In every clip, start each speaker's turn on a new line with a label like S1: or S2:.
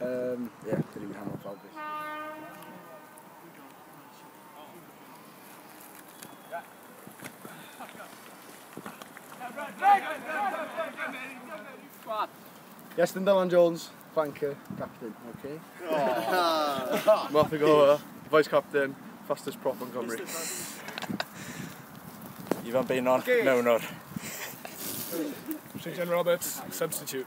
S1: Um, ie, yeah, dyn ni'n hanol fawr beth. Yes, then Dylan Jones, flanker, captain, okay? Oh. Martha Gower, vice captain, fastest prop on Cymru. Ivan Beinon, okay. mewn o'r. St John Roberts, substitute.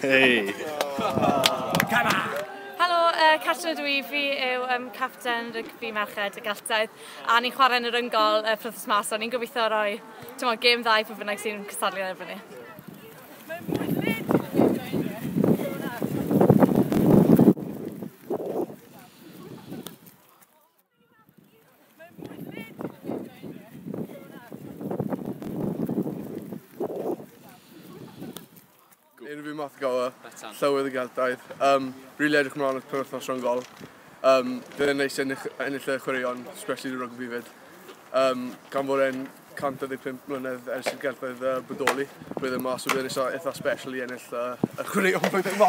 S1: Hei! Helo, uh, Catrin ydw i, fi yw um, capten rygbi merched y Geltaidd a ni'n chwarae yn yr yngol uh, prothes mas, so ni'n gobeithio roi tymor, gêm dda i pwy bynnag sy'n cystadlu ar erbyn ni. Unrhyw math o gael y llywydd y Geltaidd. Um, really edrych mlaen at penwthnos rhwng gol. Um, Bydd yn neis ennill, ennill y chwaraeon, especially y rygbi fyd. Um, gan fod e'n 115 mlynedd ers i'r gelfydd uh, bodoli. Bydd yma, so bydd yn eitha, eitha special i ennill uh, y chwaraeon blwyddyn yma.